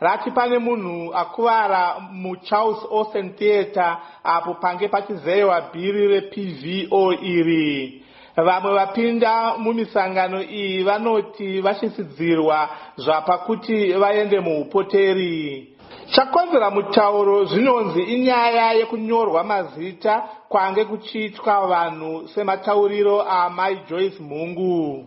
Rati pane munhu akuvara muCharles Olsen Theatre apo pange pachizeyewa bhiri rePVO iri. Vamwe vapinda mumisangano iyi vanoti vatyisidzirwa zvapa kuti vaende muhupoteri. Chakonzera mutauro zvinonzi inyaya yekunyorwa mazita kwange kuchiitwa vanhu sematauriro aAmai Joyce Mhungu.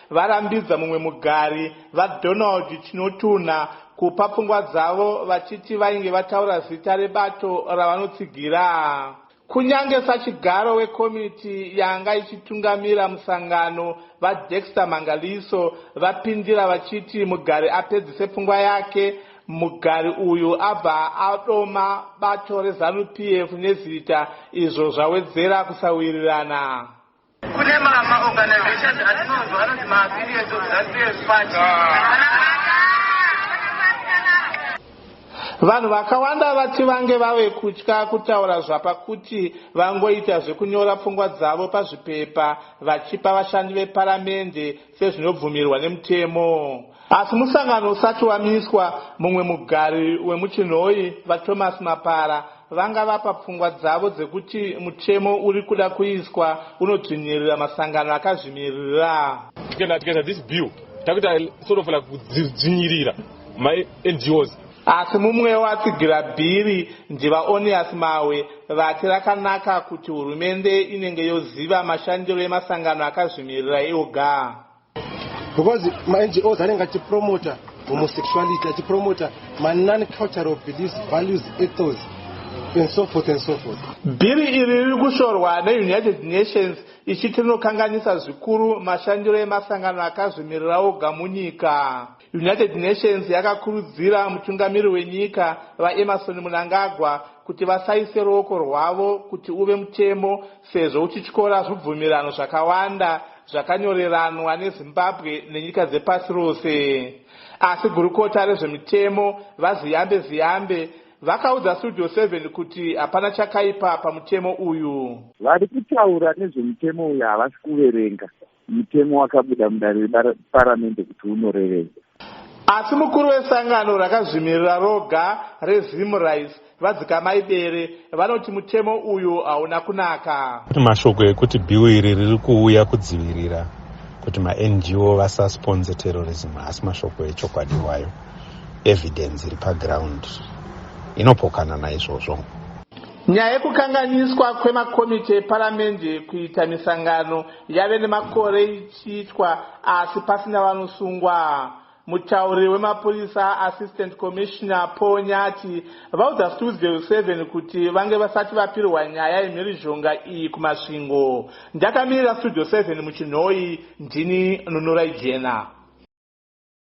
varambidza mumwe mugari, VaDonald Chinotunha, kupa pfungwa dzavo vachiti vainge vataura zita rebato ravanotsigira kunyange sachigaro wekomiti yanga ichitungamira musangano, VaDexter Mangaliso, vapindira vachiti mugari apedzise pfungwa yake. Mugari uyu abva adoma bato reZanu PF nezita izvo zvawedzera kusawirirana. Kune mama organizations atinonzwa anoti ma affiliates of that PF party. Vanhu vakawanda vati vange vave kutya kutaura zvapakuti vangoita zvekunyora pfungwa dzavo pazvipepa vachipa vashandi veparamende sezvinobvumirwa nemutemo. Asi musangano usati wamiswa, mumwe mugari wemuChinhoyi, VaThomas Mapara, vanga vapa pfungwa dzavo dzekuti mutemo uri kuda kuiswa unodzvinyirira masangano akazvimiririra. Tikaisa this bill takuita sort of like kudzvinyirira maNGOs. Asi mumwewo atsigira bhiri, ndiVaOneas Mahwe, vati rakanaka kuti hurumende inenge yoziva mashandiro emasangano akazvimirira eoga. Because maNGOs anenge achipromoter homosexuality, achipromoter manon-cultural beliefs, values, ethos and so forth and so forth. Bhiri iri riri kushorwa neUnited Nations ichiti rinokanganisa zvikuru mashandiro emasangano akazvimirira oga munyika. United Nations yakakurudzira mutungamiri wenyika, VaEmmerson Mnangagwa, kuti vasaise ruoko rwavo kuti uve mutemo sezvo uchityora zvubvumirano zvakawanda zvakanyoreranwa neZimbabwe nenyika dzepasi rose. Asi gurukota rezvemitemo, VaZiyambe Ziyambe, vakaudza Studio Seven kuti hapana chakaipa pamutemo uyu. Vari kutaura nezvemutemo uyu havasi kuverenga mutemo wakabuda mudare reparamende kuti unorevedza. Asi mukuru wesangano rakazvimirira roga reZimRights, VaDzikamai Bere, vanoti mutemo uyu hauna kunaka. Kune mashoko ekuti bhiu iri riri kuuya kudzivirira kuti maNGO vasasponse terrorism, haasi mashoko echokwadi iwayo. Evidence iri paground inopokana naizvozvo. Nyaya yekukanganiswa kwemakomiti eparamende kuita misangano Yave nemakore ichiitwa asi pasina vanosungwa. Mutauriri wemapurisa, Assistant Commissioner Paul Nyati, vaudza Stoolsville 7 kuti vange vasati vapirwa nyaya yemhirizhonga iyi kuMasvingo. Ndakamirira Studio 7 muChinhoyi, ndini Nunurai Jena.